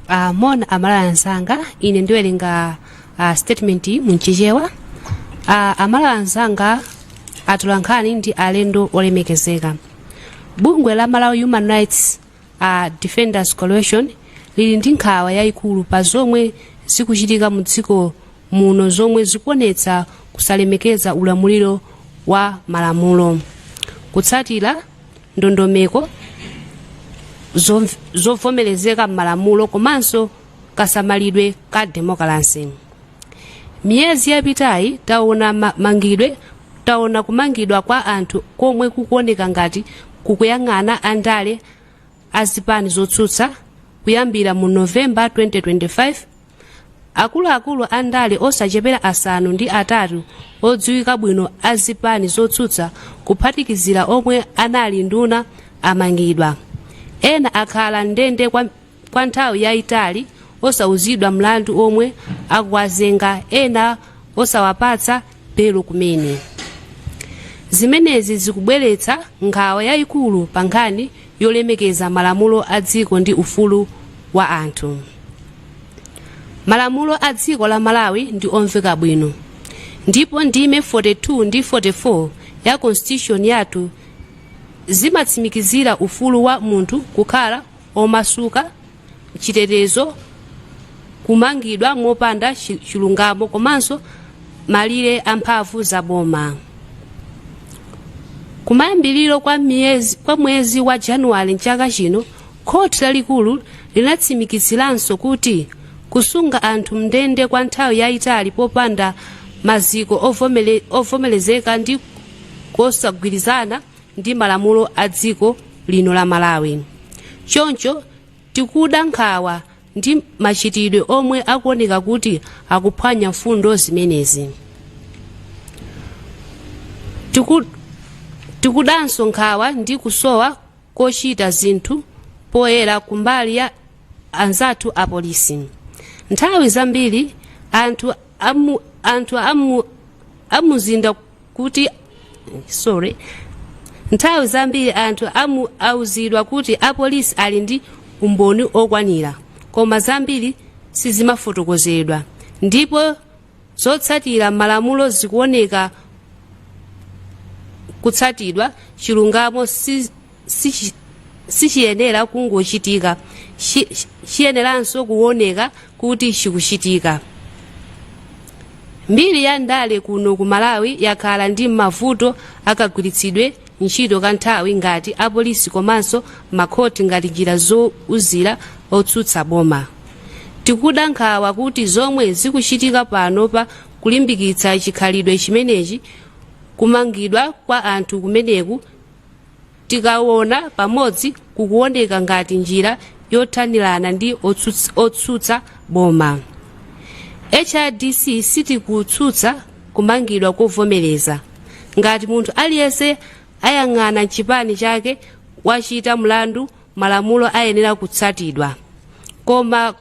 uh, moni amalawi anzanga ine ndiwerenga uh, statement mu mchichewa uh, amalawi anzanga atolankhani ndi alendo olemekezeka bungwe la malawi human rights uh, defenders coalition lili ndi nkhawa yayikulu pa zomwe zikuchitika mu dziko muno zomwe zikuonetsa kusalemekeza ulamuliro wa malamulo kutsatira ndondomeko zomv- zovomerezeka m'malamulo komanso kasamalidwe ka demokalase miyezi yapitayi taona ma- mangidwe taona kumangidwa kwa anthu komwe kukuoneka ngati kukuyang'ana andale azipani zotsutsa kuyambira mu novemba 2025 akuluakulu a ndale osachepera asanu ndi atatu odziwika bwino a zipani zotsutsa kuphatikizira omwe anali nduna amangidwa ena akhala mndende kwa, kwa nthawi yayitali osauzidwa mlandu omwe akuwazenga ena osawapatsa belo kumene zimenezi zikubweretsa nkhawa yayikulu pa nkhani yolemekeza malamulo a dziko ndi ufulu wa anthu malamulo a dziko la malawi ndi omveka bwino ndipo ndime 42 ndi 44 ya constitution yathu zimatsimikizira ufulu wa munthu kukhala omasuka, chitetezo, kumangidwa mopanda chi- chilungamo komanso malire a mphamvu za boma kumayambiriro kwa, miyezi, kwa mwezi wa januwale mchaka chino khoti lalikulu linatsimikiziranso kuti kusunga anthu mndende kwa nthawi yayitali popanda maziko ovomele- ovomerezeka ndi kosagwirizana ndi malamulo a dziko lino la Malawi. Choncho tikuda nkhawa ndi machitidwe omwe akuoneka kuti akuphwanya mfundo zimenezi. Tiku- Tikudanso nkhawa ndi kusowa kochita zinthu poyera kumbali ya anzathu apolisi. Nthawi zambiri anthu amu, anthu amu, amuzinda kuti sorry nthawi zambiri anthu amu auzidwa kuti apolisi ali ndi umboni okwanira koma zambiri sizimafotokozedwa ndipo zotsatira malamulo zikuoneka kutsatidwa chilungamo si sichi- sichiyenera kungochitika Chi- chi- chiyeneranso kuoneka kuti chikuchitika mbiri ya ndale kuno ku malawi yakhala ndi mavuto akagwiritsidwe ntchito ka nthambi ngati apolisi komanso makhoti ngati njira zouzira otsutsa boma tikuda nkhawa kuti zomwe zikuchitika pano pa kulimbikitsa chikhalidwe chimenechi kumangidwa kwa anthu kumeneku tikawona pamodzi kukuwoneka ngati njira yothanirana ndi otsutsa, otsutsa boma hrdc sitikutsutsa kumangidwa kovomereza ngati munthu aliyense osayang'ana chipani chake wachita mlandu malamulo ayenera kutsatidwa koma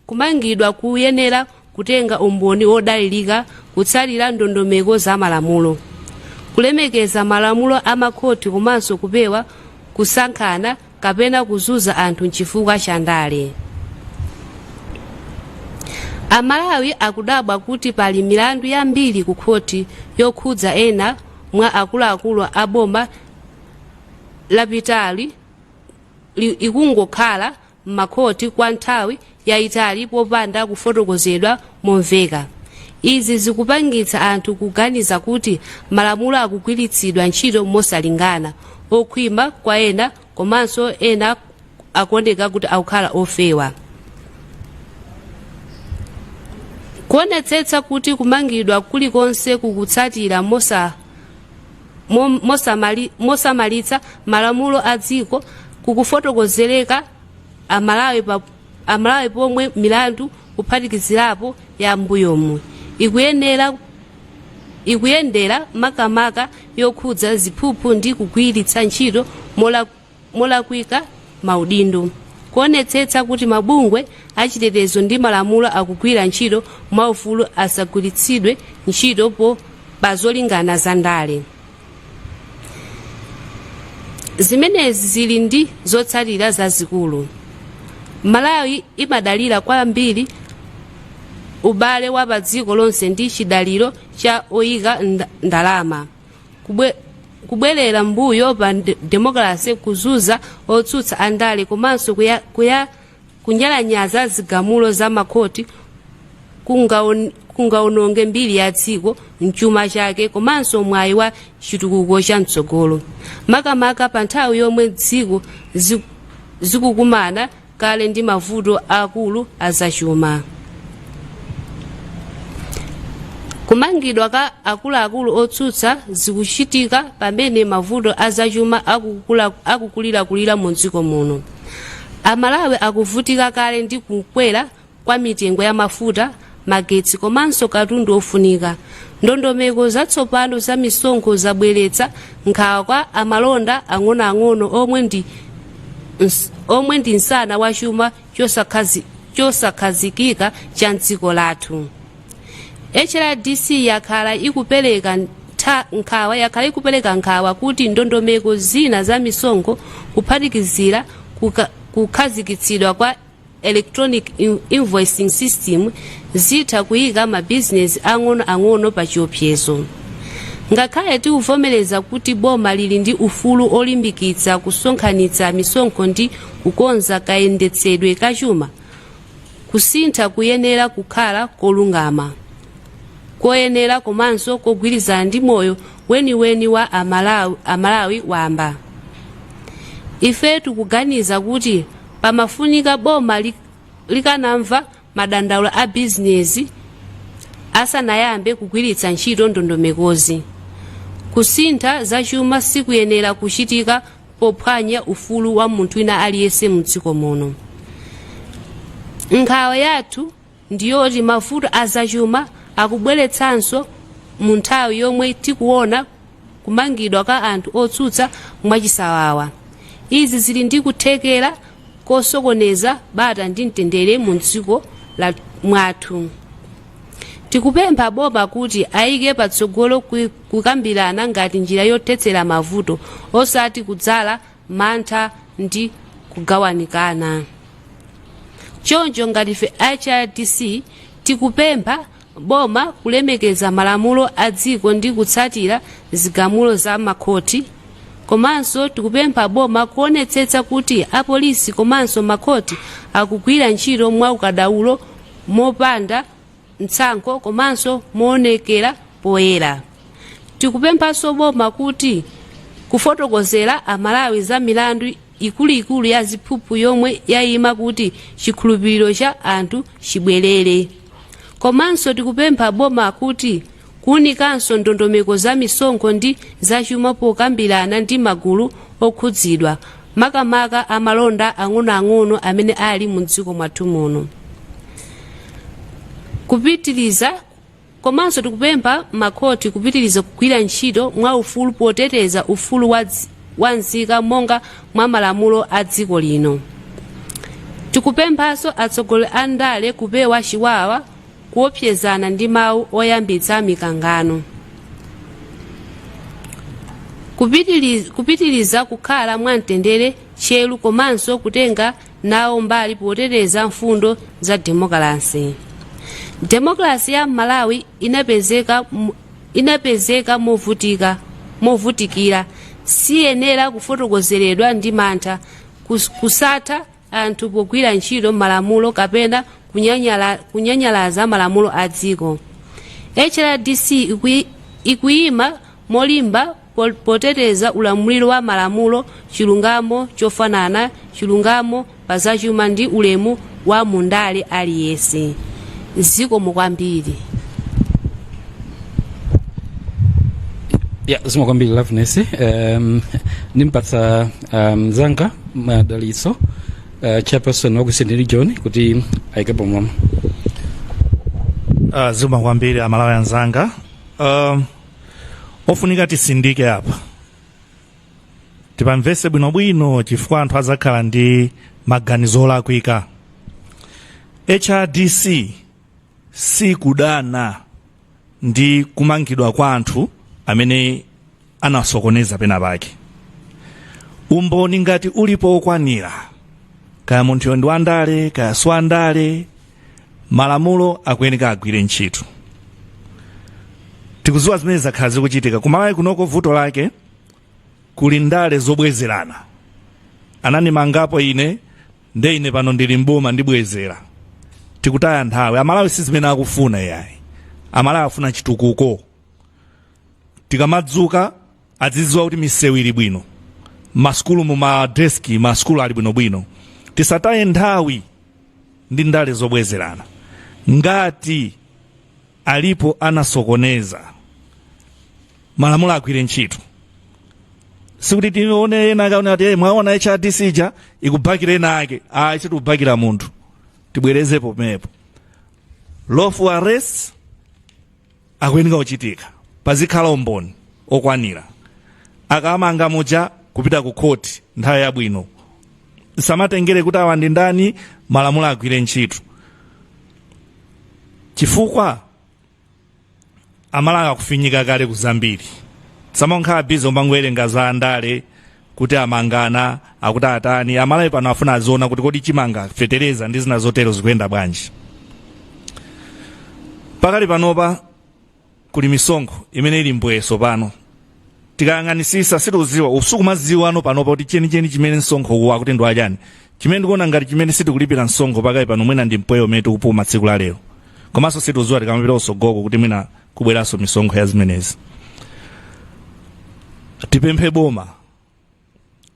Kumangidwa kuyenera kutenga umboni wodalirika kutsatira ndondomeko za malamulo, kulemekeza malamulo a makhoti komanso kupewa kusankhana kapena kuzunza anthu chifukwa cha ndale. Amalawi akudabwa kuti pali milandu yambiri ku khoti yokhudza ena mwa akuluakulu a boma lapitali li- ikungokhala m'makhoti kwa nthawi yaitali popanda kufotokozedwa momveka. Izi zikupangitsa anthu kuganiza kuti malamulo akugwiritsidwa ntchito mosalingana, okhwima kwa ena komanso ena akuoneka kuti akukhala ofewa. Kuonetsetsa kuti kumangidwa kulikonse kukutsatira mosa mo- mosamali- mosamalitsa malamulo a dziko kukufotokozereka amalawi pa- amalawi pomwe milandu kuphatikizirapo ya mbuyomu ikuyenera ikuyendera makamaka yokhudza ziphuphu ndi kugwiritsa ntchito mola molakwika maudindo, kuonetsetsa kuti mabungwe achitetezo ndi malamulo akugwira ntchito mwaufulu asagwiritsidwe ntchito po pazolingana za ndale. Zimenezi zili ndi zotsatira zazikulu. Malawi imadalira kwambiri ubale wa padziko lonse ndi chidaliro cha oyika nda- ndalama. kubwe, kubwerera mbuyo pa nde- demokalase kuzunza otsutsa andale komanso kuya, kuya, kunyalanyaza zigamulo za makhoti kungaon- kungaononge mbiri ya dziko chuma chake komanso mwayi wa chitukuko cha mtsogolo makamaka pa nthawi yomwe dziko zi- zikukumana kale ndi mavuto akulu azachuma kumangidwa ka akuluakulu otsutsa zikuchitika pamene mavuto azachuma akukula- akukulirakulira mu dziko muno amalawi akuvutika kale ndi kukwera kwa mitengo ya mafuta, magetsi komanso katundu ofunika. Ndondomeko zatsopano za misonkho zabweretsa nkhawa kwa amalonda ang'onoang'ono omwe ndi ns- omwe ndi msana wa chuma chosakhazi- chosakhazikika cha mdziko lathu. hrdc yakhala ikupereka ntha- nkhawa yakhala ikupereka nkhawa kuti ndondomeko zina za misonkho kuphatikizira kuka- kukhazikitsidwa kwa electronic in- invoicing system zitha kuyika mabizinesi ang'onoang'ono pa chiopsezo ngakhale tikuvomereza kuti boma lili ndi ufulu olimbikitsa kusonkhanitsa misonkho ndi kukonza kayendetsedwe ka chuma kusintha kuyenera kukhala kolungama koyenera komanso kogwirizana ndi moyo weniweni wa amalawi, amalawi wamba ife tikuganiza kuti Pamafunika boma li, likanamva madandaulo a bizinezi asanayambe kugwiritsa ntchito ndondomekozi. Kusintha zachuma sikuyenera kuchitika pophwanya ufulu wa munthu wina aliyense mdziko muno. Nkhawa yathu ndi yoti mavuto a zachuma akubweretsanso mu nthawi yomwe tikuona kumangidwa kwa anthu otsutsa mwachisawawa. Izi zili ndi kuthekera kosokoneza bata ndi mtendere mu dziko la mwathu. Tikupempha boma kuti ayike patsogolo ku- kukambirana ngati njira yothetsera mavuto osati kudzala mantha ndi kugawanikana choncho ngati ife hrdc tikupempha boma kulemekeza malamulo a dziko ndi kutsatira zigamulo za makhoti komanso tikupempha boma kuonetsetsa kuti apolisi komanso makhoti akugwira ntchito mwaukadaulo mopanda mtsankho komanso moonekera poyera. Tikupemphanso boma kuti kufotokozera Amalawi za milandu ikuluikulu ya ziphuphu yomwe yayima kuti chikhulupiriro cha anthu chibwerere. Komanso tikupempha boma kuti Kuunikanso ndondomeko za misonkho ndi zachuma pokambirana ndi magulu okhudzidwa, makamaka a malonda ang'onoang'ono amene ali mumdziko mwathu muno. Kupitiliza komanso tikupempha makhoti kupitiliza kugwira ntchito mwaufulu poteteza ufulu wa dzi- wa nzika monga mwa malamulo a dziko lino. Tikupemphanso atsogoleri a ndale kupewa chiwawa kuopsezana ndi mawu oyambitsa mikangano Kupitili- kupitiliza kukhala mwamtendere tcheru komanso kutenga nawo mbali poteteza mfundo za demokalasi demokalasi ya malawi inapezeka mu- inapezeka movutika movutikira siyenera kufotokozeredwa ndi mantha kus- kusatha anthu pogwira ntchito malamulo kapena kunyanyala, kunyanyalaza malamulo a dziko hrdc ikui- ikuyima molimba po- poteteza ulamuliro wa malamulo chilungamo chofanana chilungamo pa zachuma ndi ulemu wa mundale aliyense zikomo kwambiri ya zikomo kwambiri loveness um, ndimpatsa mzanga madalitso uh, chairperson wa ku eastern region kuti ayikepo mawu uh, zikomo kwambiri amalawi anzanga um, ofunika tisindike apa tipamvese bwinobwino chifukwa anthu adzakhala ndi maganizo olakwika hrdc sikudana ndi kumangidwa kwa anthu amene anasokoneza pena pake umboni ngati ulipo wokwanira kaya munthuyo ndi wandale kaya si wandale malamulo akuyeneka agwire ntchito tikuziwa zimene zakhala zikuchitika kumalawi kunoko vuto lake kuli ndale zobwezerana ananimangapo ine nde ine pano ndili mboma ndibwezera tikutaya nthawi amalawi si zimene akufuna yayi amalawi afuna chitukuko tikamadzuka adziziwa kuti misewu ili bwino masukulu mu madeski masukulu ali bwinobwino tisataye nthawi ndi ndale zobwezerana ngati alipo anasokoneza malamulo agwire ntchito sikuti tione ena akaona ati "Eh, mwaona hrdc ija ikubakira ena ake ayi sitikubakira munthu tibwerezepo pomwepo lawful arrest akuyeneka kuchitika pazikhala umboni okwanira akamanga muja kupita ku khoti nthawi yabwino samatengere kuti awa ndi ndani malamulo agwire ntchito chifukwa amalawi akufinyika kale ku zambiri samangokhala bize omangowerenga za andale kuti amanga akuti atani amalawi pano afuna aziona kuti kodi chimanga fetereza ndi zina zotero zikuyenda bwanji pakali panopa kuli misonkho imene ili mbwee so pano tikayang'anisisa sitikuziwa usikuziwa ano panopa kuti chenicheni chimene msonkho uwu akuti ndi wachani chimene ndikuona ngati chimene sitikulipira msonkho pakali pano mwina ndi mpweya umene tikupuma tsiku la lero komanso sitikuziwa tikamapita kusogoloko kuti mwina kubweranso misonkho ya zimenezi tipemphe boma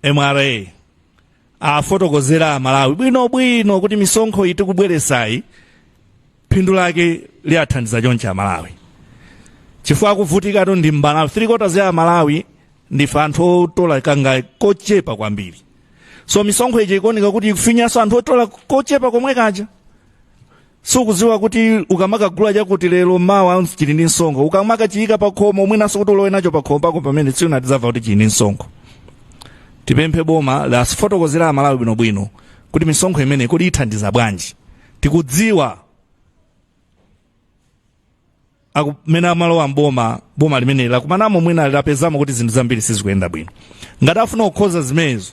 mra afotokozere amalawi bwinobwino kuti misonkho iyi tikubweresayi phindu lake liwathandiza chonchi amalawi chifukwa akuvutikatu ndi mmalawi three quarters ya amalawi ndife anthu otola kangachepe kochepa kwambiri so misonkho ija ikuoneka kuti ikufinyanso anthu otola kochepa komwe kaja sukudziwa kuti ukamakagula chakuti lero mawa chili ndi msonkho ukamakachiyika pa khomo mwinanso kuti ulowe nacho pa khomo pako pompo tsiku lina tidzamva kuti chili ndi msonkho tipemphe boma liwafotokozere amalawi bwinobwino kuti misonkho imene kodi ithandiza bwanji tikudziwa akumene amalowa mboma boma limeneli lakumanamo mwina lapezamo kuti zinthu zambiri sizikuyenda bwino ngati afuna kukonza zimenezo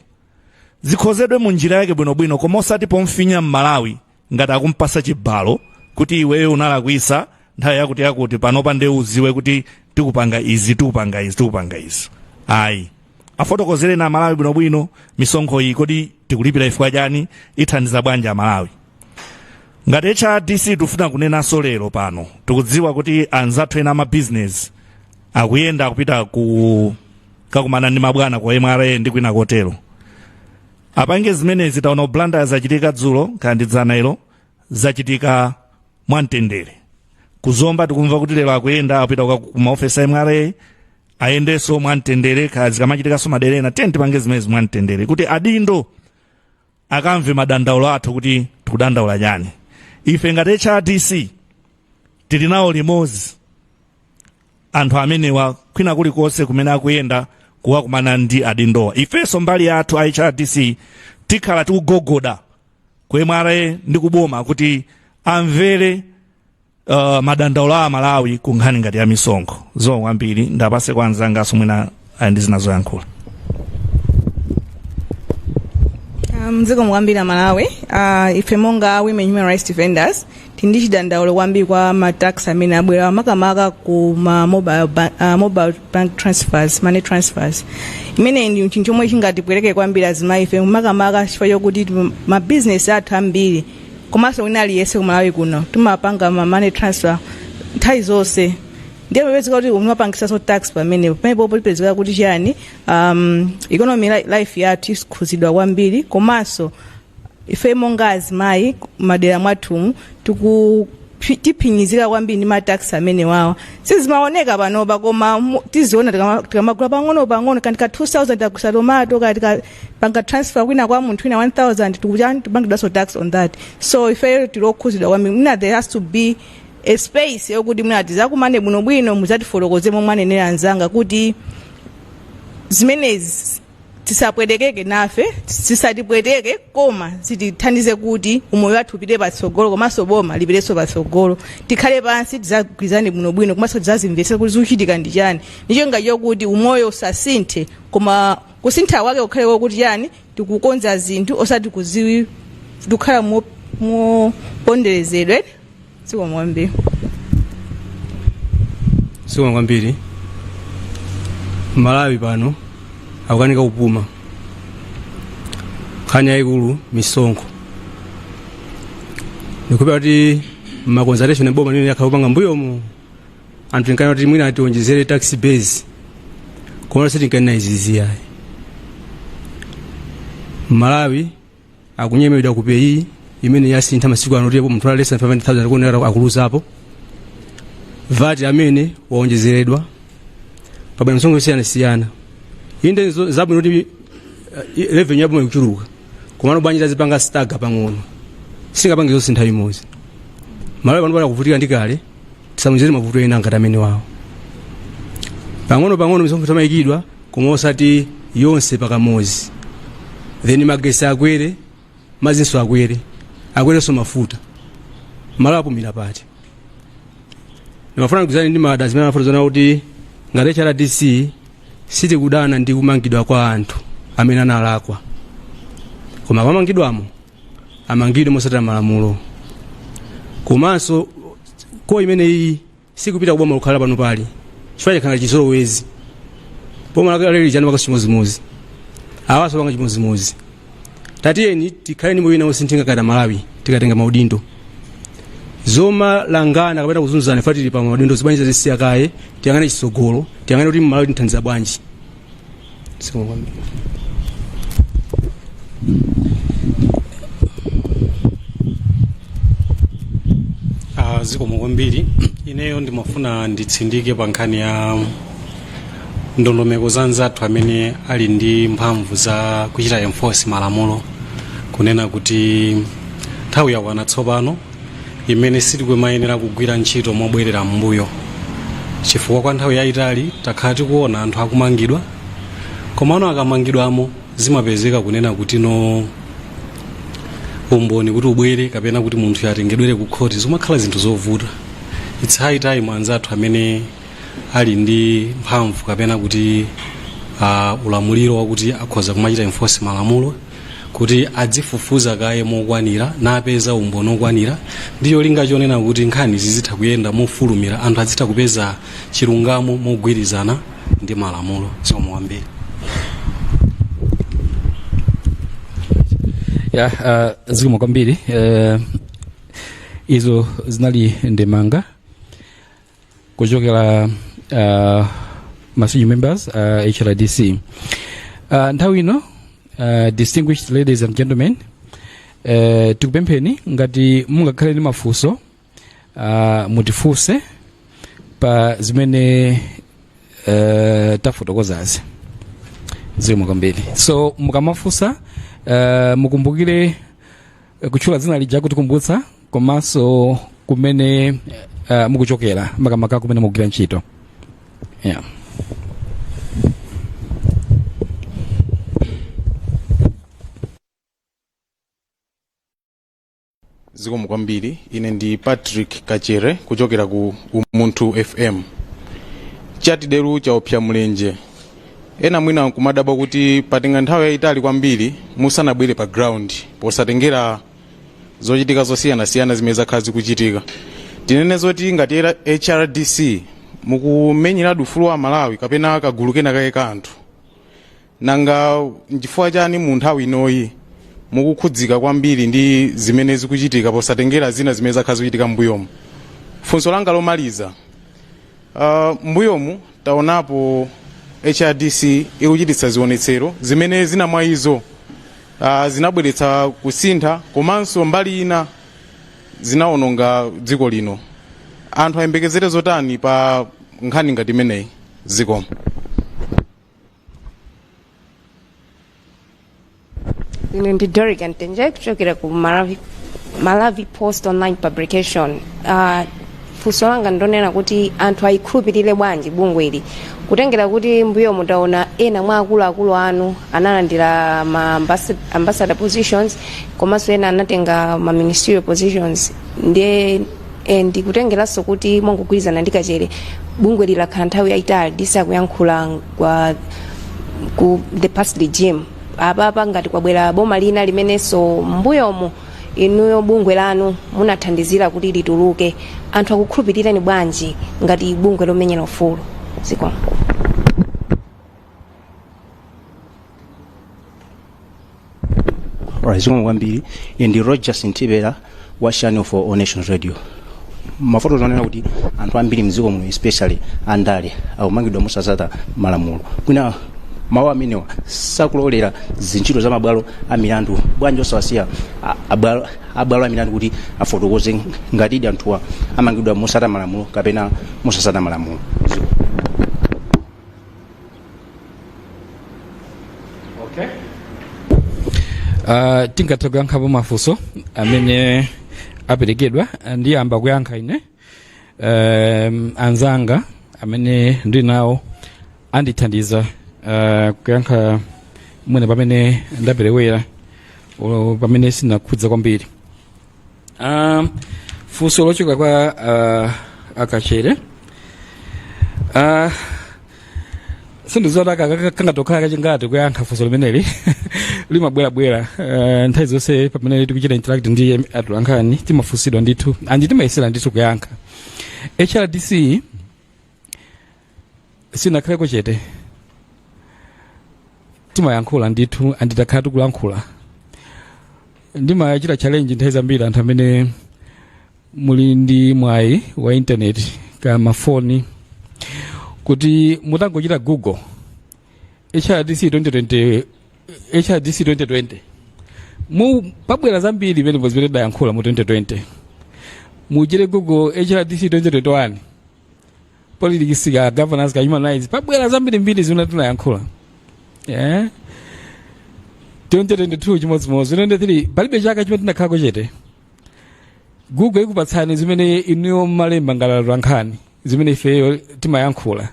zikonzedwe mu njira yake bwinobwino koma osati pomfinya mmalawi ngati akumpasa chibalo kuti iweyo unalakwisa nthawi yakuti yakuti panopa nde uziwe kuti tikupanga izi tikupanga izi tikupanga izi ayi afotokozereni amalawi bwinobwino misonkho iyi kodi tikulipira chifukwa chani ithandiza bwanji amalawi ngati hrdc tufuna kunenanso lero pano tikudziwa kuti anzathu ena amabizinesi akuyenda kupita kukakumana ndi mabwana ku mra ndi kwina kotero apange zimenezi taona ku blantyre zachitika dzulo kaya ndi dzana ilo zachitika mwamtendere ku zomba tikumva kuti lero akuyenda akupita ku maofesi a mra ayendenso mwamtendere kaya zikamachitikanso madera ena tiyeni tipange zimenezi mwamtendere kuti adindo akamve madandaulo athu kuti tikudandaula chani ife ngati hrdc tili nawo limodzi anthu amenewa kwina kulikonse kumene akuyenda kukakumana ndi adindowa ifenso mbali yathu a hrdc tikhala tikugogoda ku mra ndi kuboma kuti amvere uh, madandaulo a amalawi ku nkhani ngati ya misonkho zikomo kwambiri ndipase kwa anzangaso mwina ali ndi zina zoyankhula zikomo kwambiri amalawi uh, ife monga women human rights defenders tili ndi chidandaulo kwambiri kwa matax amene abwera makamaka ku ma mobile, ba- uh, mobile bank transfers money transfers imeneyi ndi chinthu chomwe chingatipweteke kwambiri azimayi ife makamaka chifukwa chokuti mabizinesi athu ambiri komanso wina aliyense ku malawi kuno timapanga ma money transfer nthawi zonse ndiye zipezeka kuti umapangisanso tax pamenepo pamenepo polipezeka kuti chiyani um, economy li- life yathu ikhuzidwa kwambiri komanso ife monga azimayi madera mwathumu tiku phi- tiphinyizika kwambiri ndi matax amene wawa sizimaoneka panopa koma mu- tiziona tikama- tikamagula pang'ono pang'ono kandi ka 2000 tagula tomato kati ka panga transfer kwina kwa munthu wina 1000 tichani tipangidwaso tax on that so ifeyo tilokhuzidwa kwambiri mwina there has to be a space yokuti mwina tizakumane bwinobwino muzatifotokoze momwe anenera anzanga kuti zimenezi tisapwetekeke nafe tisatipweteke koma zitithandize kuti umoyo wathu upite patsogolo komanso boma lipitenso patsogolo tikhale pansi tizagwirizane bwinobwino komanso tizazimvetsera kuti zikuchitika ndi chani ndicho cholinga chokuti umoyo usasinthe koma kusintha kwake kukhale kwakuti chani tikukonza zinthu osati kuzi tikukhala mo- moponderezedwe zikomo kwambiri zikomo kwambiri malawi pano akukanika kupuma nkhani yayikulu misonkho ndikudziwa kuti maconsultation a boma limene yakhala kupanga mbuyomo anthu tinkanena kuti mwina atiwonjezere tax base koma sitinkanena izizi ayi malawi akunyemedwa ku peyi imene yasintha masiku ano kuti apo munthu alesa 500000 akuonera akuluzapo vat amene waonjezeredwa pabwera misonkho yosiyanasiyana inde nzo- zabwino kuti eh, revenue yaboma ikuchuluka komano bwanji azipanga stagger pang'ono singapange zonse nthawi imodzi malawi panopa ali akuvutika ndi kale tisamuonjezere mavuto ena ngati amene wawo pang'ono pang'ono misonkho imayikidwa koma osati yonse pakamodzi then magesi akwere mazinso akwere akwerenso mafuta malawi apumira pati ndimafuna ndigwirizane ndi madam zimene amafotokoza kuti ngati hrdc sitikudana ndi kumangidwa kwa anthu amene analakwa koma pomangidwamo amangidwe mosatira malamulo komanso call imene iyi sikupita kuboma lokhala panopa ayi chifukwa chakhala chizolowezi boma lakale lija linapanga chimodzimodzi awaso apanga chimodzimodzi tatiyeni tikhale ndi moyo wina wosinthika ngati amalawi tikatenga maudindo zomamangana kapena kuzunzana fa tili pa maudindo zibwana tizisiya kaye tiyang'ane chisogolo tiyang'ane kuti malawi timthandiza bwanji Ah, zikomo kwambiri ineyo ndimafuna nditsindike pa nkhani ya ndondomeko za anzathu amene ali ndi mphamvu za kuchita enforce malamulo kunena kuti nthawi yakwana tsopano imene sitikumayenera kugwira ntchito mobwerera m'mbuyo chifukwa kwa nthawi yayitali takhala tikuona anthu akumangidwa komano akamangidwamo zimapezeka kunena kuti no umboni kuti ubwere kapena kuti munthu atengedwere ku khoti zimakhala zinthu zovuta it's high time anzathu amene ali ndi mphamvu kapena kuti uh, ulamuliro wakuti akhoza kumachita enforce malamulo kuti adzifufuza kaye mokwanira napeza umboni okwanira ndi cholinga chonena kuti nkhani zizitha kuyenda mofulumira anthu azitha kupeza chilungamo mogwirizana ndi malamulo zikomo kwambiri ya uh, zikomo kwambiri uh, izo zinali ndemanga kuchokera uh, masenior members uh, hrdc uh, nthawi ino uh, distinguished ladies and gentlemen uh, tikupempheni ngati mungakhale ndi mafunso uh, mutifunse pa zimene uh, tafotokozazi zikomo kwambiri so mukamafunsa uh, mukumbukire kutchula dzina lija kutikumbutsa komanso kumene uh, mukuchokera makamaka kumene mukugwira ntchito yeah. zikomo kwambiri ine ndi patrick kachere kuchokera ku umunthu fm chatideru chaopsa mlenje ena mwina nkumadabwa kuti patenga nthawi yayitali kwambiri musanabwere pa ground posatengera zochitika zosiyanasiyana zimene zakhala zikuchitika tinene zoti ngati era- hrdc mukumenyeradi ufulu wa amalawi kapena kagulu kena kake ka anthu nanga nchifukwa chani mu nthawi inoyi mukukhudzika kwambiri ndi zimene zikuchitika posatengera zina zimene zakhala zikuchitika mbuyomu funso langa lomaliza Uh, mbuyomu taonapo hrdc ikuchititsa zionetsero zimene zina mwa izo uh, zinabweretsa kusintha komanso mbali ina zinaononga dziko lino anthu ayembekezere zotani pa nkhani ngati imeneyi zikomo ine ndi Doric Mtenje kuchokera ku Malawi, Malawi Post Online Publication. Uh, funso langa ndonena kuti anthu ayikhulupirire bwanji bungwe ili kutengera kuti mbuyomu taona ena mwa akuluakulu anu analandira ma ambassa- ambassador positions komanso ena anatenga ma ministerial positions ndiye e, ndikutengeranso kuti mongogwirizana ndi Kachere bungweli lakhala nthawi yayitali lisakuyankhula kwa ku the past regime apapa ngati kwabwera boma lina limenenso mbuyomu inuyo bungwe lanu munathandizira kuti lituluke anthu akukhulupirirani bwanji ngati bungwe lomenyera ufulu zikomo zikomo kwambiri ine ndi rogers ntibera wa channel for all nations radio mwafotokoza zonena kuti anthu ambiri mdziko muno especially andale akumangidwa mosatsata malamulo kwina mawu amenewa sakulowerera ntchito za mabwalo a milandu bwanji osawasiya a- abwalo abwalo a milandu kuti afotokoze ngatidi anthuwa amangidwa motsata malamulo kapena mosatsata malamulo okay. uh, tingatha kuyankhapo mafunso amene aperekedwa ndiyamba kuyankha ine um, anzanga amene ndili nawo andithandiza uh, kuyankha mwina pamene ndaperewera o- pamene sinakhudza kwambiri Ah, funso lochoka kwa ah, a Kachere Ah, sindidziwa aka aka- kangatokhala kachingati kuyankha funso limeneli limabwerabwera Ah, nthawi zonse pamene tikuchita interact ndi em- atolankhani timafunsidwa ndithu andi timayesera ndithu kuyankha hrdc sinakhaleko chete timayankhula ndithu and takhala tikulankhula ndimachita challenge nthawi zambiri anthu amene muli ndi mwayi wa intaneti ka mafoni kuti mutangochita google hrdc 2020 hrdc 2020 mu pabwera zambiri pamenepo zimene tayankhula mu 2020 muchite google hrdc 2021 politics ka governance ka human rights pabwera zambirimbiri zimene tinayankhula yeah. 2022 chimodzimodzi 2023 palibe chaka chimene tinakhalako chete google ikupatsani zimene inuyo mmalemba ngati atolankhani zimene ifeyo timayankhula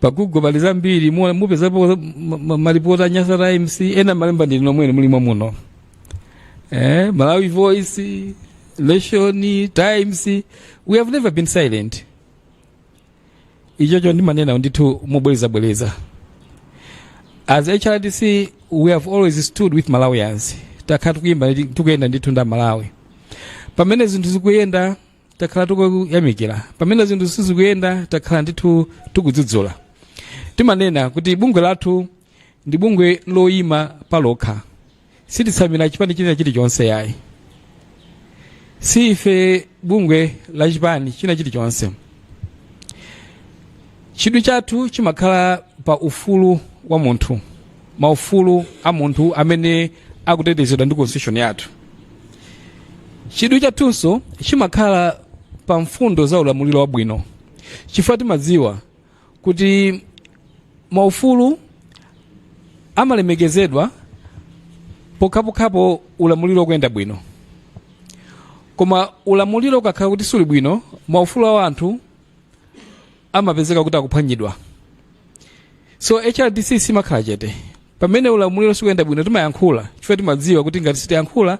pa google pali zambiri mu- mupezapo ma- ma- malipoti a nyasa times ena mmalemba ndinu nomwe ne muli mwamuno eh, malawi voice nation times we have never been silent ichocho ndimanena ndithu mobwerezabwereza as hrdc we have always stood with malawians takhala tikuyenda ndithu ndi amalawi pamene zinthu zikuyenda takhala tikuyamikira pamene zinthu sizikuyenda takhala ndithu tikudzudzula timanena kuti bungwe lathu ndi bungwe loyima palokha sititsamira chipani china chilichonse yayi si ife bungwe la chipani china chilichonse chidwi chathu chimakhala pa ufulu wa munthu maufulu a munthu amene akutetezedwa ndi constitution yathu chidwi chathunso chimakhala pa mfundo za ulamuliro wabwino chifukwa timadziwa kuti maufulu amalemekezedwa pokhapokhapo ulamuliro ukuyenda bwino koma ulamuliro ukakhala kuti suli bwino maufulu a anthu amapezeka kuti akuphwanyidwa so hrdc simakhala chete pamene ulamuliro sukuyenda bwino timayankhula chifukwa timadziwa kuti ngati sitiyankhula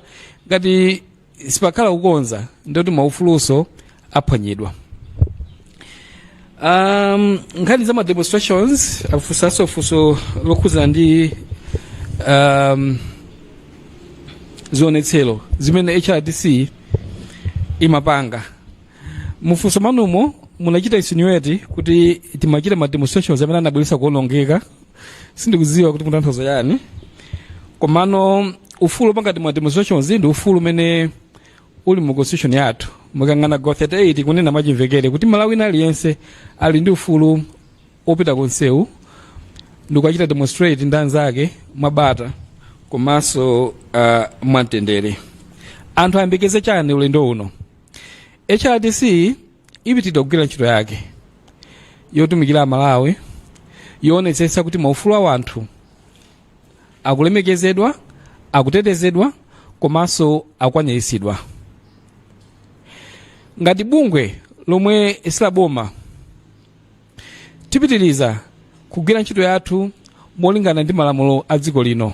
ngati sipakhala kukonza ndikuti maufulunso aphwanyidwa um, nkhani za ma demonstrations afunsanso funso lokhudzana ndi um, zionetsero zimene hrdc imapanga mu funso mwanumo munachita insinuate kuti timachita ma demonstrations amene anabweretsa kuonongeka sindikudziwa kuti mukutanthauza chani komano ufulu opanga ma demonstrations ndi ufulu umene uli mu constitution yathu mukaona gawo 38 likunena mwachimvekere kuti mmalawi wina aliyense ali ndi ufulu opita kumsewu ndikukachita demonstrate ndi anzake mwabata komanso uh, mwamtendere anthu ayembekeze chani ulendo uno hrdc ipitiriza kugwira ntchito yake yotumikira amalawi yoonetsetsa kuti maufulu a wanthu akulemekezedwa akutetezedwa komanso akukwaniritsidwa ngati bungwe lomwe si la boma tipitiriza kugwira ntchito yathu molingana ndi malamulo a dziko lino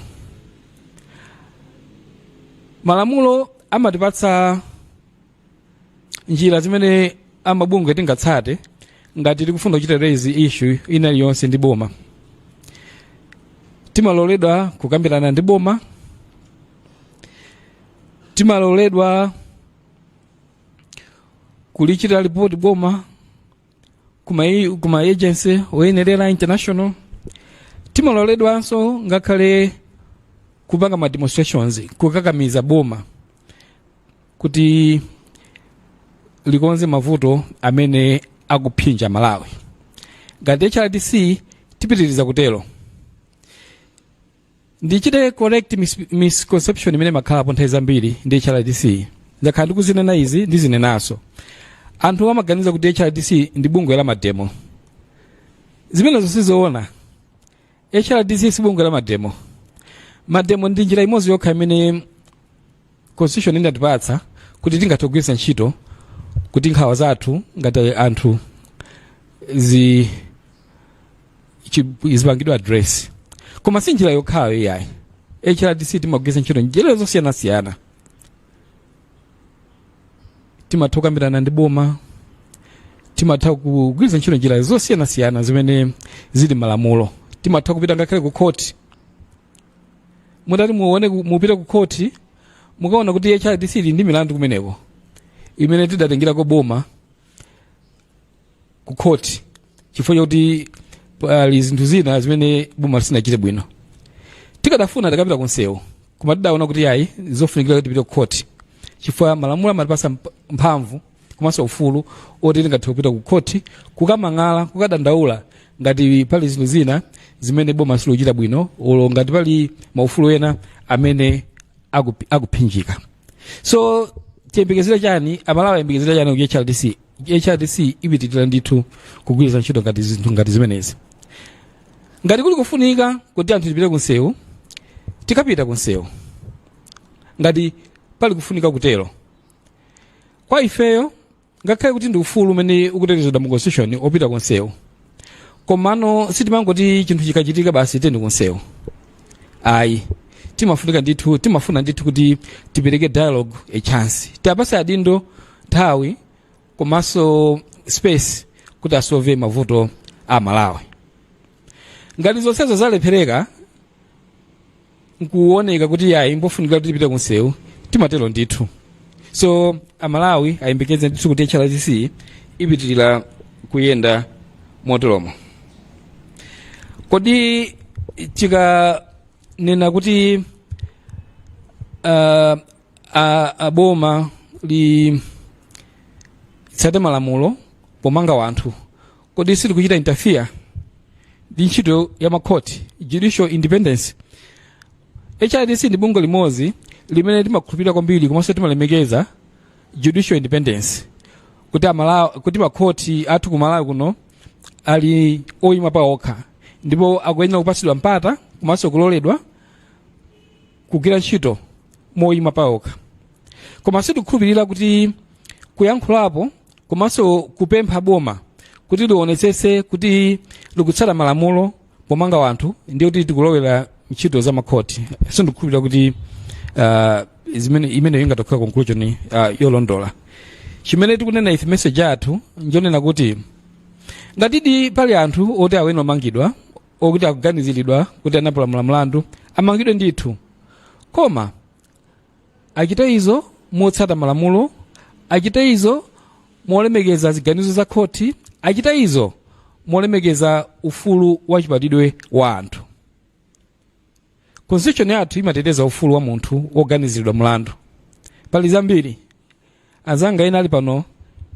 malamulo amatipatsa njira zimene amabungwe tingatsate ngati tikufuna kuchita raise issue ina iliyonse ndi boma timaloledwa kukambirana ndi boma timaloledwa kulichita lipoti boma kuma kuma agency oyenerera international timaloledwanso ngakhale kupanga ma demonstrations kukakamiza boma kuti likonze mavuto amene akuphinja malawi ngati hrdc tipitiriza kutero ndichite correct mis- misconception imene imakhalapo nthawi zambiri ndi hrdc ndakhala ndikuzinena izi ndizinenanso anthu amaganiza kuti hrdc ndi bungwe la mademo zimenezo sizoona hrdc si bungwe la mademo mademo ndi njira imodzi yokha imene constitution inatipatsa kuti tingathe kugwiritsa ntchito kuti nkhawa zathu ngati anthu zi chi- zipangidwe address koma si njira yokhayo iyayi hrdc timagwiritsa ntchito njira zosiyanasiyana timatha kukambirana ndi boma timatha kugwiritsa ntchito njira zosiyanasiyana zimene zili m'malamulo timatha kupita ngakhale ku khoti mutati muone ku- mupite ku khoti mukaona kuti hrdc ili ndi milandu kumeneko imene tidatengerako boma ku khoti chifukwa chakuti pali zinthu zina zimene boma lisinachite bwino tikadafuna tikapita kunsewu koma tidaona kuti ayi zofunikira kuti tipite ku khoti chifukwa malamulo amatipatsa mp- mphamvu komanso ufulu oti tingathe kupita ku khoti kukamang'ala kukadandaula ngati pali zinthu zina zimene boma silochita bwino olo ngati pali maufulu ena amene akupi- akuphinjika so tiyembekezere chani amalawi ayembekezere chani ku hrdc hrdc ipitirira ndithu kugwiritsa ntchito ngati zinthu ngati zimenezi ngati kuli kufunika kuti anthu tipite kunsewu tikapita kunsewu ngati pali kufunika kutero kwa ifeyo ngakhale kuti ndi ufulu umene ukutetezedwa mu constitution opita kunsewu komano sitimangoti chinthu chikachitika basi tiyeni kunsewu ayi timafunika ndithu timafuna ndithu kuti tipereke dialogue a chance tiwapatse adindo nthawi komanso space kuti asolve mavuto a amalawi ngati zonsezo zalephereka nkuoneka kuti yayi mbofunika kuti tipite kunsewu timatero ndithu so amalawi ayembekeze ndithu kuti hrdc ipitirira kuyenda moteromo kodi tikanena kuti uh, a, a boma litsate malamulo pomanga wanthu kodi sitikuchita interfere ndi ntchito ya makhoti judicial independence hrdc ndi bungwe limodzi limene timakhulupirira kwambiri komanso timalemekeza judicial independence kuti makhoti athu ku malawi kuno ali oyima pa okha ndipo akuyenera kupatsidwa mpata komanso kuloledwa kugwira ntchito moyima pa okha koma sitikukhulupirira kuti kuyankhulapo komanso kupempha boma kuti lionetsetse kuti likutsata malamulo pomanga wanthu ndiye kuti tikulowera ntchito za makhoti sindikukhulupirira kuti uh, imeneyo ingatokhala conclusion uh, yolondola chimene tikunena ife message yathu njonena kuti ngatidi pali anthu oti ayenera kumangidwa okuti akuganiziridwa kuti anapalamula mlandu amangidwe ndithu koma achite izo motsata malamulo achite izo molemekeza ziganizo za khoti achite izo molemekeza ufulu wa chibadwidwe wa anthu constitution yathu imateteza ufulu wa munthu woganiziridwa mlandu pali zambiri anzanga ena ali pano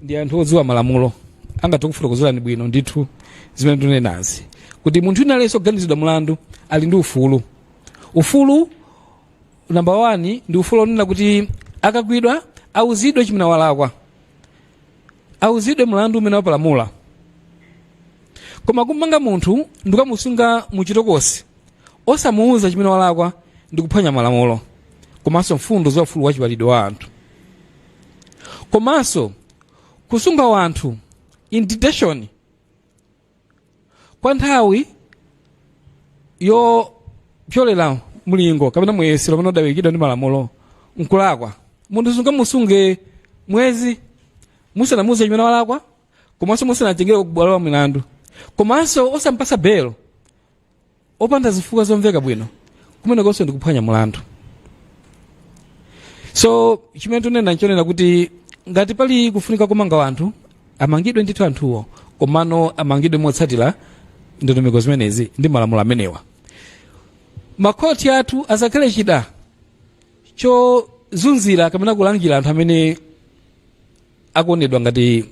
ndi anthu odziwa malamulo angathe kufotokozerani bwino ndithu zimene ndikunenazi kuti munthu wina aliyense oganizidwa mlandu ali ndi ufulu ufulu namba 1 ndi ufulu onena kuti akagwidwa auzidwe chimene walakwa auzidwe mlandu umene wapalamula koma kumanga munthu ndikukamusunga muchitokosi osamuuza chimene walakwa ndi kuphwanya malamulo komanso mfundo za ufulu wa chibadwidwe wa anthu komanso kusunga wanthu in detention kwa nthawi yopyolera mlingo kapena muyeso omwe udayikidwa ndi malamulo nkulakwa munthu sungamusunge mwezi musanamuuze chimene walakwa komanso musanatengere kubwalo la milandu komanso osampasa belo opanda zifukwa zomveka bwino kumenekonso ndi kuphwanya malamulo so chimene tunena nchonena kuti ngati pali kufunika kumanga anthu amangidwe ndithu anthuwo komano amangidwe motsatira ndondomeko zimenezi ndi malamulo amenewa makhoti athu asakhale chida chozunzira kapena kulangira anthu amene akuonedwa ngati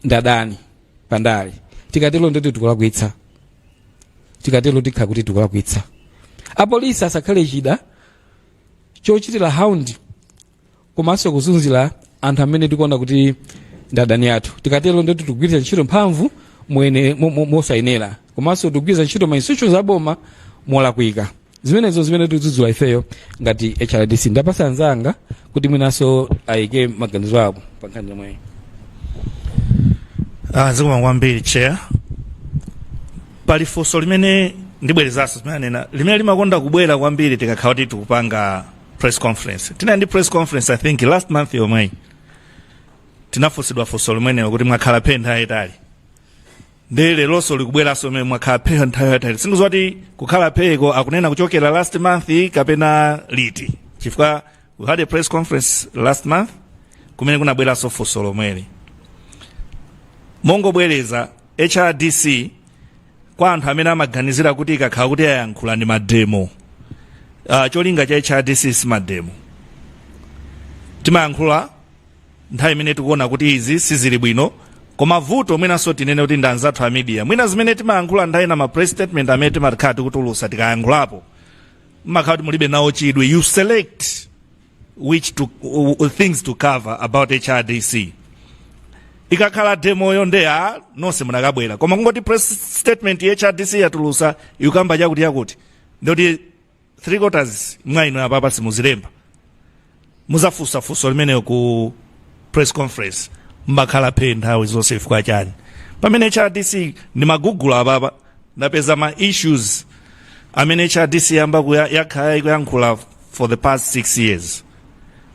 ndadani pandale tikatero ndoti tikulakwitsa tikatero tikhala kuti tikulakwitsa apolisi asakhale chida chochitira hound komanso kuzunzira anthu amene tikuona kuti ndadani athu tikatero ndoti tikugwiritsa ntchito mphamvu mo- mo- mosayenera komanso tikugwiritsa ntchito ma institutions aboma molakwika zimenezo zimene tikudzudzula ifeyo ngati hrdc ndapasa anzanga kuti mwinanso ayike maganizo awo pa nkhani yomweyi Ah, zikomo kwambiri chair pali funso limene ndibwerezanso zimene anena limene limakonda kubwera kwambiri tikakhala kuti tikupanga press conference tinali ndi press conference i think last month yomweyi tinafunsidwa funso limenelo kuti mwakhala phe nthawi yaitali nde leronso likubweranso mmene mwakhala phe nthawi yaitali sindikudziwa kuti kukhala pheko akunena kuchokera last month kapena liti chifukwa we had a press conference last month kumene kunabweranso funso lomweli mongobwereza hrdc kwa anthu amene amaganizira kuti ikakhala kuti yayankhula ndi mademo uh, cholinga cha hrdc si mademo timayankhula nthawi imene tikuona kuti izi sizili bwino koma vuto mwinanso tinene kuti ndi anzathu a media mwina zimene timayankhula nthawi ina ma press statement amene timakhala tikutulutsa tikayankhulapo mumakhala kuti mulibe nawo chidwi you select which to, uh, uh, things to cover about hrdc ikakhala demoyo nde ya nonse munakabwera koma kungoti press statement ya hrdc yatulutsa ikukamba chakuti chakuti ndoti three quarters mwa inu apapa simuzilemba mudzafunsa funso limenelo ku press conference mwakhala phe nthawi zonse chifukwa chani pamene hrdc ndimagoogle apapa ndapeza ma issues amene hrdc yamba kuya- yakhala ikuyankhula for the past six years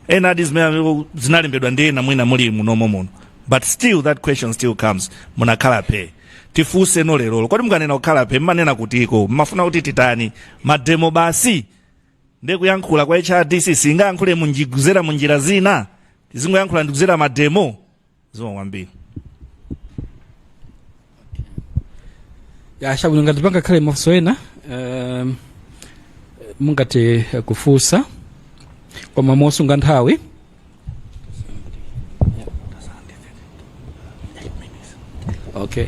ena ati zimene zinalembedwa ndi ena mwina muli munomo muno but still that question still comes munakhala phe tifunseno lerolo kodi mukanena kukhala phe mumanena kutiko mumafuna kuti titani mademo basi nde kuyankhula kwa hrdc singayankhule munjiguzera munjira zina tizingoyankhula kudzera mademo zikomo kwambiri ya chabwino ngati pangakhale mafunso ena um, mungathe kufunsa koma mosunga nthawi okay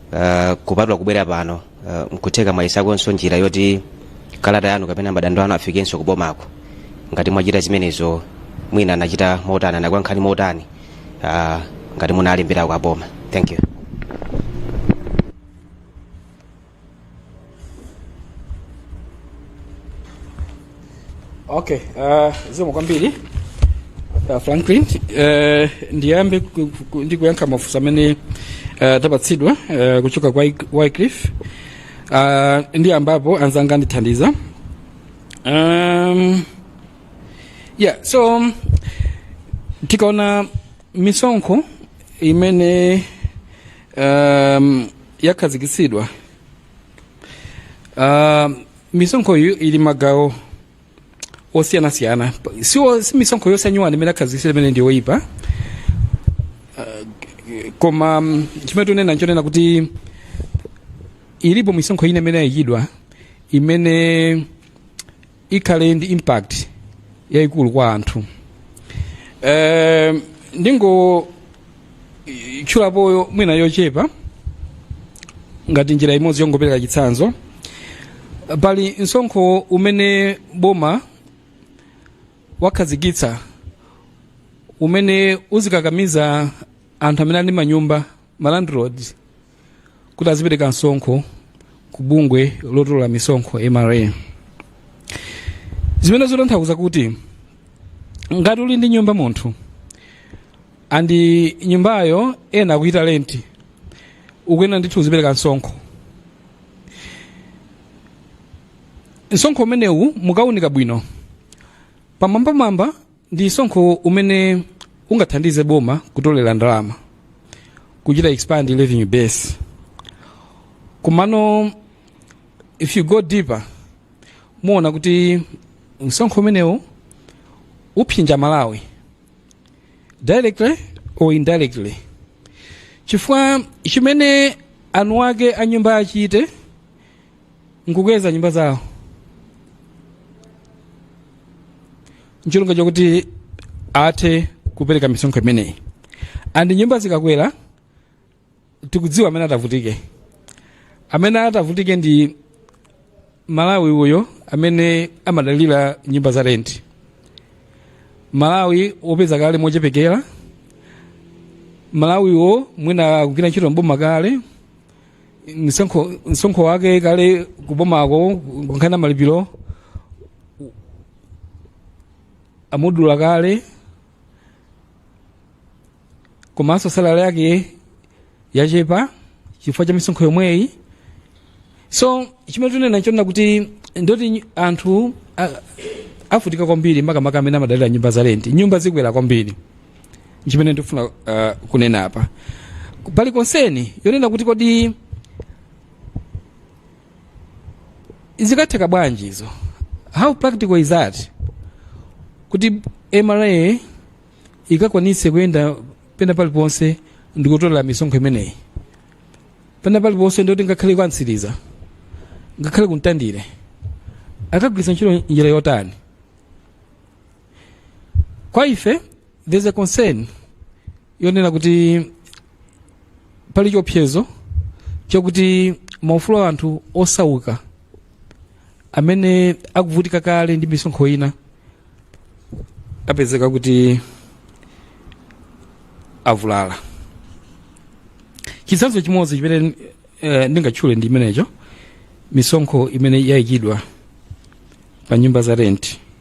uh, kupatula kubwera pano uh, nkutheka mwayesakonso njira yoti kalata yanu kapena madandaulo anu afikenso kubomako ngati mwachita zimenezo mwina anachita motani anakuyankhani motani uh, ngati munalemberako aboma thank you Okay, uh, zikomo kwambiri uh, Franklin uh, ndiyambe ku- ku- ndi kuyankha mafunso amene uh, tapatsidwa uh, kuchoka kwa Wyc- Wycliffe uh, ndiyambapo anzanga andithandiza um, yeah so um, tikaona misonkho imene um, yakhazikitsidwa uh, misonkho iyi ili magawo osiyanasiyana Pa- si onse si misonkho yonse anyuwani imene yakhazikitsidwa imene ndi yoyipa Uh, koma mm, chimene tunena nchonena kuti ilipo misonkho ina imene yayikidwa imene ikhale ndi impact yayikulu kwa anthu eh, ndingotchulapo mwina yochepa ngati njira imodzi yongopereka chitsanzo pali msonkho umene boma wakhazikitsa umene uzikakamiza anthu amene ali ndi manyumba malandlords kuti azipereka msonkho ku bungwe lotolola misonkho mra zimenezo zotanthauza kuti ngati uli ndi nyumba munthu andi nyumbayo ena akuyita renti ukuyenera ndithu uzipereka msonkho msonkho umenewu mukaunika bwino pamwambamwamba ndi msonkho umene ungathandize boma kutolera ndalama kuchita expand revenue base komano if you go deeper muona kuti msonkho umenewu upsinja mmalawi directly or indirectly chifukwa chimene eni ake a nyumba achite nkukweza nyumba zawo ncholinga chakuti athe kupereka misonkho imeneyi and nyumba zikakwera tikudziwa amene atavutike amene atavutike ndi mmalawi uyo amene amadalira nyumba za renti mmalawi wopeza kale mochepekera mmalawiyo mwina akugwira ntchito mboma kale msonkho msonkho wake kale kubomako kunkhani ya malipiro amudula kale komanso salari yake yochepa chifukwa cha misonkho yomweyi so chimene tunena nchonena kuti ndoti anthu a- avutika kwambiri makamaka amene amadalira nyumba za renti nyumba zikwera kwambiri chimene ndikufuna uh, kunena apa pali konseni yonena kuti kodi zikatheka bwanji izo how practical is that kuti mra ikakwanitse kuyenda pena paliponse ndikutolera misonkho imeneyi pena paliponse ndikuti ngakhale kwa Mtsiriza ngakhale ku Mtandire akagwiritsa ntchito njira yotani kwa ife there's a concern yonena kuti pali chiopsezo chakuti maufulu a anthu osauka amene akuvutika kale ndi misonkho ina apezeka kuti avulala chitsanzo chimodzi chimene eh, ndingatchule ndi chimenecho misonkho imene yayikidwa pa nyumba za renti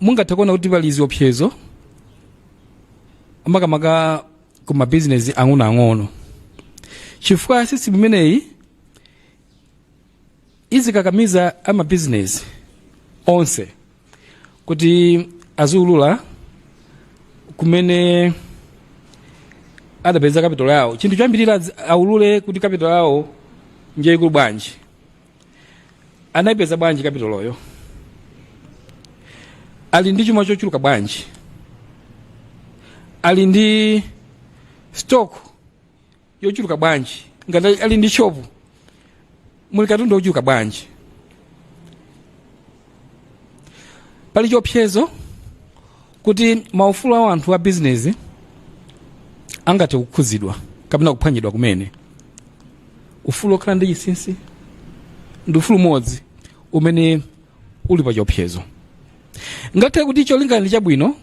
mungathe kuona kuti pali ziopsezo makamaka ku mabizinesi ang'onoang'ono chifukwa sisimu imeneyi izikakamiza amabizinesi onse kuti aziulula kumene adapeza kapitolo yawo chinthu choyambirira aulule kuti kapitolo yawo njaikulu bwanji anayipeza bwanji kapitoloyo ali ndi chuma chochuluka bwanji ali ndi stock yochuluka bwanji ngati ali ndi shopu muli katundu wochuluka bwanji pali chiopsezo kuti maufulu a anthu a bizinezi angathe kukhudzidwa kapena kuphwanyidwa kumene ufulu wokhala ndi chinsinsi ndi ufulu umodzi umene uli pa chiopsezo ngakhale kuti cholinga ndi chabwino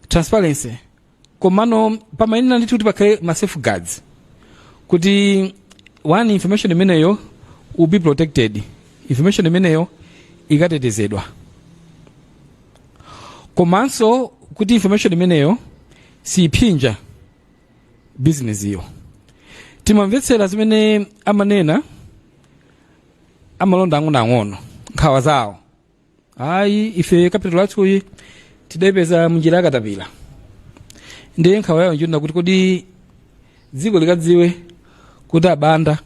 transparency komano pamayenera ndithu kuti pakhale ma safeguards kuti one information imeneyo will be protected information imeneyo ikatetezedwa komanso kuti information imeneyo siyiphinja business iyo timamvetsera zimene amanena amalonda ang'onoang'ono nkhawa zawo ayi ife kapitolo yathuyi tidayipeza munjira yakatapira ndiye nkhawa yawo nchonena kuti kodi dziko likadziwa kuti abanda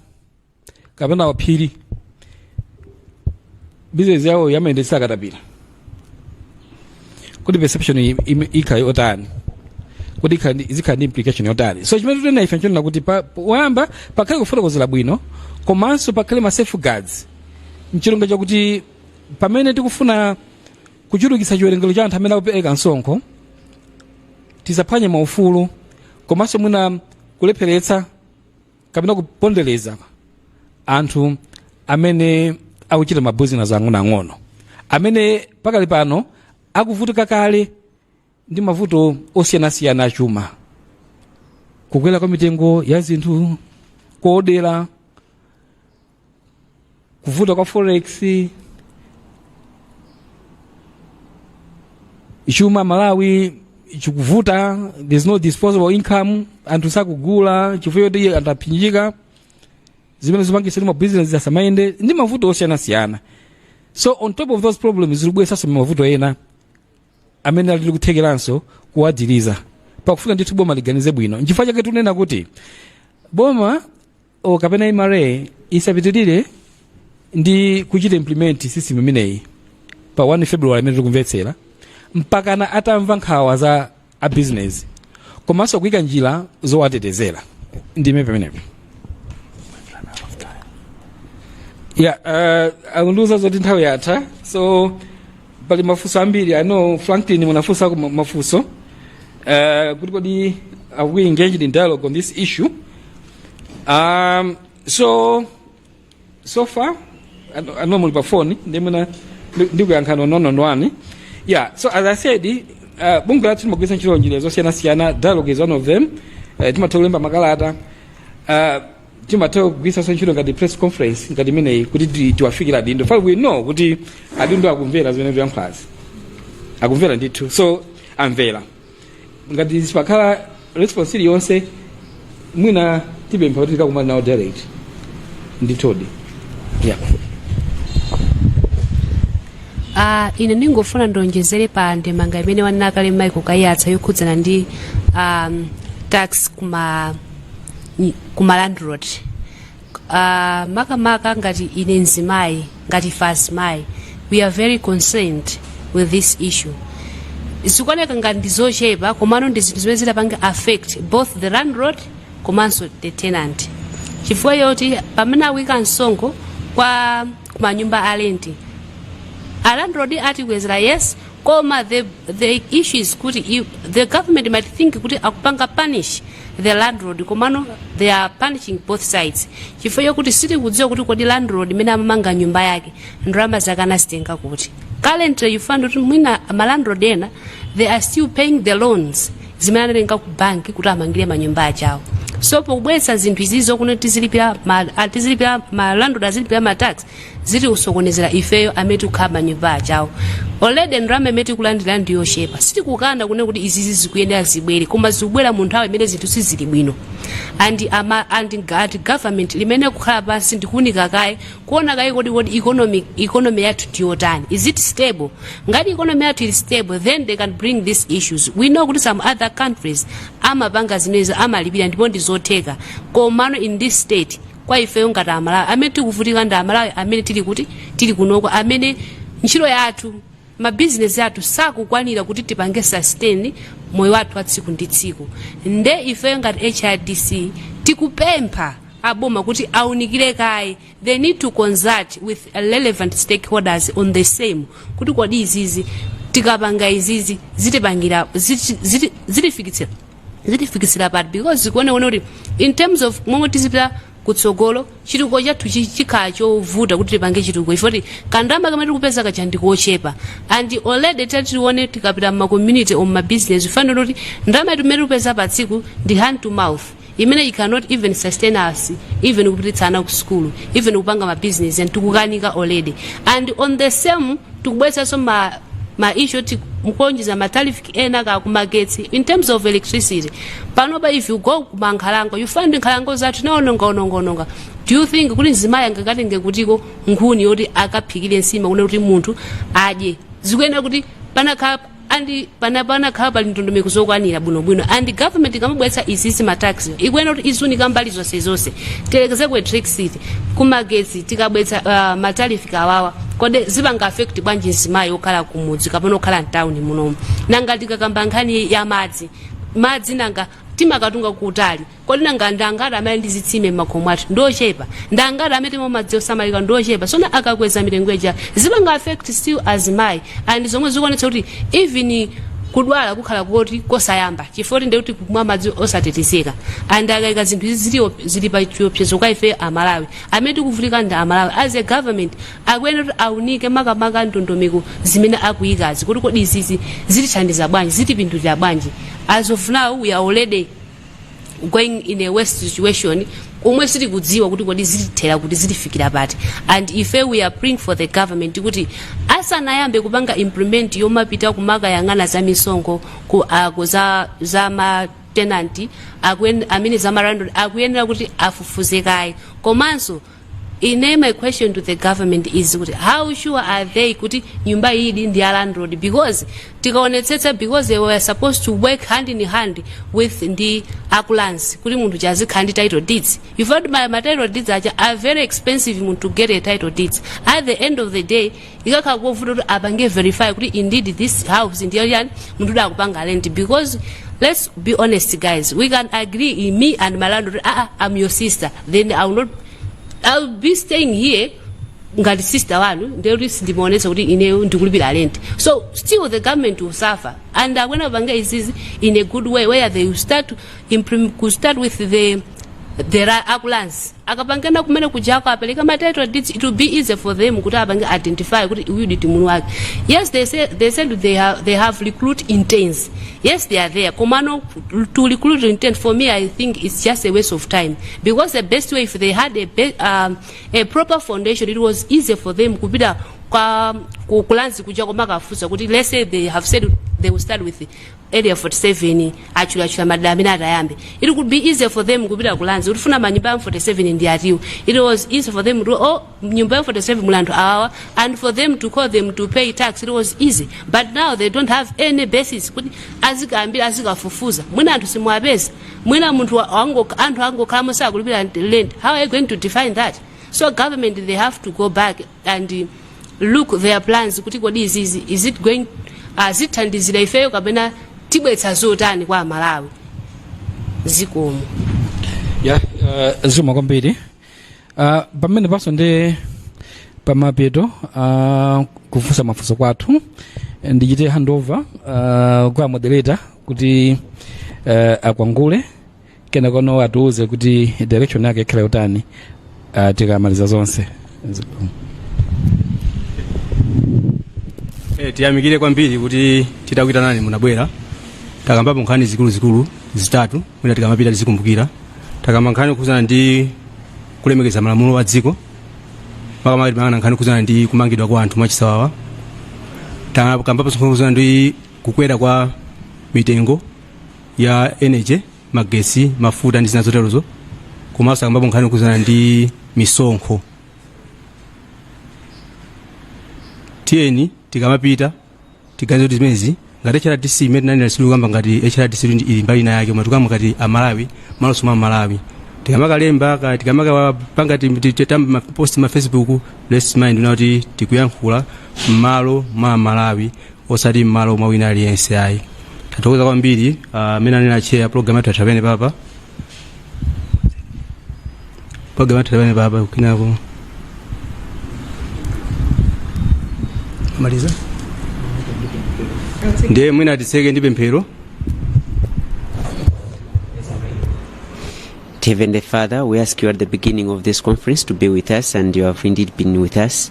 kapena aphiri bizinesi yawo amayendetsa akatapira kuti perception i- im- ikhala yotani kuti ikhale ndi- izikhala ndi implication yotani so chimene tikunena ife nchonena kuti pa- poyamba pakhale kufotokozera bwino komanso pakhale ma safeguards ncholinga chakuti pamene tikufuna kuchulukitsa chiwerengero cha anthu amene akupereka msonkho tisaphwanye maufulu komanso mwina kulepheretsa kapena kupondereza anthu amene akuchita mabusiness ang'onoang'ono amene pakali pano akuvutika kale ndi mavuto osiyanasiyana achuma kukwera kwa mitengo ya zinthu kaoda kuvuta kwa forex chuma malawi chikuvuta there's no disposable income anthu sakugula chifukwa choti anthu apanikizika zimene zipangitsa kuti mabusiness asamayende ndi mavuto osiyanasiyana so on top of those problems zikubweresanso mavuto ena amene ali ndi kuthekeranso kuwavulaza pakufunika ndithu boma liganize bwino nchifukwa chake tikunena kuti boma o kapena mra isapitirire ndi kuchita implement system imeneyi pa 1 february imene tikumvetsera mpakana atamva nkhawa za a business komanso kuika njira zowatetezera ndiime pamenepo ya yeah, uh, akundiuza zoti nthawi yatha so pali mafunso ambiri I know Franklin munafunsako ma- mafunso uh, kuti kodi are we engaged in dialogue on this issue um, so so far I know- I know muli pa phone ndimafuna ndikuyankheni one on one yeah so as i said uh, bungwe lathu timagwiritsa ntchito njira zosiyanasiyana dialogue is one of them uh, timatha kulemba makalata uh, timatha kugwiritsanso ntchito ngati press conference ngati imeneyi kuti ti- tiwafikire adindo fai we know kuti adindo akumvera zimene tikuyankhulazi akumvera ndithu so amvera ngati sipakhala response iliyonse mwina tipempha kuti tikakumana nawo direct ndithudi yeah. Ah, ine ndingofuna ndionjezere pa ndemanga imene wanena kale Michael Kaiyatsa yokhudzana ndi um, tax kuma kumalandlord uh, makamaka ngati ine mzimayi ngati ife azimayi we are very concerned with this issue zikuoneka ngati ndi zochepa komano ndi zinthu zimene zitapange affect both the landlord komanso the tenant chifukwa choti pamene akuika msonkho kwa kumanyumba a renti alandlord atikwezera yes koma the, the issue is kuti i- the government might think kuti akupanga punish the landlord komano they are punishing both sides chifukwa chokuti sitikudziwa kuti kodi landlord imene amamanga nyumba yake ndalama zake anazitenga kuti currently you find kuti mwina malandlord ena they are still paying the loans zimene anatenga ku banki kuti amangire manyumba achawo so pobweza zinthu izizi kuno tizilipira ma- ah, tizilipira malandlord azilipira matax zitiusokonezela ifeyo amene tikukhala m'manyumba achawo already ndalama imene tikulandira ndi yochepa sitikukana kunena kuti izizi zikuyenera zibwere koma zikubwera mu nthawi imene zinthu sizili bwino and ama and ga- and government limene kukhala pansi ndikuunika kaye kuona kaye kodi kodi economic economy yathu ndiyotani is it stable ngati economy yathu ili stable then they can bring these issues we know kuti some other countries amapanga zimenezo amalipira ndipo ndi zotheka komano in this state kwa ifeyo ngati amalawi amene tikuvutika ndi amalawi amene tili kunoko amene ntchito yathu mabizinesi athu sakukwanira kuti tipange sustain moyo wathu wa tsiku ndi tsiku nde ifeyo ngati hrdc tikupempha aboma kuti aunikire kaye they need to consult with relevant stakeholders on the same kuti kodi izizi tikapanga izizi zitipangira ziti- ziti- zitifikitsira zitifikitsira pati because zikuoneka kuti in terms of momwe tizipita kutsogolo chitukuko chathu chi- chikhala chovuta kuti tipange chitukuko chifoti kandalama kamene tikupeza kaja ndikochepa and already tatione tikapita mmakommunity or mmabusiness fanira kuti ndalama yathu imene tikupeza pa tsiku ndi hand to mouth imene it cannot even sustain us even kupititsa ana ku sukulu even kupanga mabusiness tikukanika already and on the same tikubweretsanso ma ma issue oti mukuonjeza ma tariff ena ka kumagetsi in terms of electricity panopa if you go kumankhalango you find nkhalango zathu naononga ononga ononga do you think kuti mzimayi angakatenge kuti ko nkhuni yoti akaphikire nsima kunena kuti munthu adye zikuyenera kuti panakhala andi pana panakhala pali ndondomeko zokwanira bwinobwino and government ikamabweretsa izizi mataxi ikuyenera kuti izunika mbali zonse zonse tiyerekeze ku electricity kumagetsi tikabweretsa matarifi awawa kodi zipanga affect bwanji mzimayi okhala kumudzi kapena okhala mtawuni munomu nanga tikakamba nkhani ya madzi madzi nanga timakatunga kutali kodi nanga ndangati amene ndi zitsime m'makhomo athu ndiochepa ndangati amene timwa madzi osamalika ndiochepa so akakweza mitengo ija zipanga affect still azimayi and zomwe zikuonetsa kuti even kudwala kukhala koti kosayamba chifukwa choti ndi kuti kumwa madzi osatetezeka and akaika zinthu izi zili op- zili pa chiopsezo kwa ife amalawi amene tikuvutika ndi amalawi as a government akuyenera kuti aunike makamaka ndondomeko zimene akuikazi kuti kodi izizi zitithandiza bwanji zitipindulira bwanji as of now we are already going in a worse situation momwe sitikudziwa kuti kodi zitithera kuti zitifikira pati and ife we are praying for the government kuti asanayambe kupanga implement yomapita kumakayang'ana za misonkho ku ako za za ma tenanti akuen- amene za malandlord akuyenera kuti afufuze kaye komanso Ine my question to the government is kuti how sure are they kuti nyumba iyidi ndi ya landlord because tikaonetsetsa because they were supposed to work hand in hand with ndi a ku Lands kuti munthu uja azikhala ndi title deeds you find ma, ma title deeds aja are very expensive munthu to get a title deeds at the end of the day ikakhala kovuta kuti apange verify kuti indeed this house ndiyo chani munthu uda akupanga rent because let's be honest guys we can agree in me and my landlord ah, ah, i'm your sister then i will not i'll be staying here ngati sister wanu ndiye kuti sindimaonesa kuti ineyo ndikulipira rent so still the government will suffer and akwena apange izizi in a good way where they will start to implement, could start with the the ra- ambulance akapangana kumene kujako apeleke ma title deeds it will be easy for them kuti apange identify kuti uyu ndi mulu wake yes they, say, they said they have, they have recruit intents yes they are there komano to recruit intent for me i think it's just a waste of time because the best way if they had a, be, um, a proper foundation it was easy for them kupita kwa ku- kulanzi kuja komakafusa kuti let's say they have said they will start with area 47 atchulatchula madera amene atayambe it could be easy for them kupita ku Lands kuti tikufuna manyumba ya 47 ndi atiwo it was easy for them to oh nyumba ya 47 muli anthu awawa and for them to call them to pay tax it was easy but now they don't have any basis kuti azikambira azikafufuza mwina anthu simuwapeza mwina munthu wa- wango- anthu angokhalamo sakulipira rent how are you going to define that so government they have to go back and uh, look their plans kuti kodi izizi is it going azithandizira ifeyo kapena tibwetsa zotani kwa amalawi zikomo ya uh, zikomo kwambiri uh, pamenepanso ndi pamapeto a kufunsa mafunso kwathu ndichite handover uh, kwa moderator kuti uh, akwangule kenakono atiuze kuti direction yake ikhale yotani uh, tikamaliza zonse Eh, tiyamikire kwambiri kuti titakuitanani munabwera takambapo nkhani zikuluzikulu zitatu mwina tikamapita tizikumbukira takamba nkhani kukhudzana ndi kulemekeza malamulo a dziko makamaka timayang'ana nkhani kukhudzana ndi kumangidwa kwa anthu mwachisawawa takambapo nkhani kukhudzana ndi kukwera kwa mitengo ya energy magetsi mafuta ndi zina zoterozo komanso takambapo nkhani yokhudzana ndi misonkho tiyeni tikamapita tiganize kuti zimenezi ngati hrdc mmene tinanena sitikukamba ngati hrdc ndi ili mbali ina yake koma tikukamba ngati amalawi mmalonso mwa amalawi tikamakalemba ka- tikamakapanga ti- ti- ti- tam- ma- post ma facebook let's mind una kuti tikuyankhula mmalo mwa amalawi osati m'malo mwa wina aliyense ayi tathokoza kwambiri mmene uh, anena a chair program yathu yatha pamenepapa program yathu yatha pamenepapa kukinako maliza ndiye mwina titseke ndi pemphero Heavenly Father, we ask you at the beginning of this conference to be with us, and you have indeed been with us.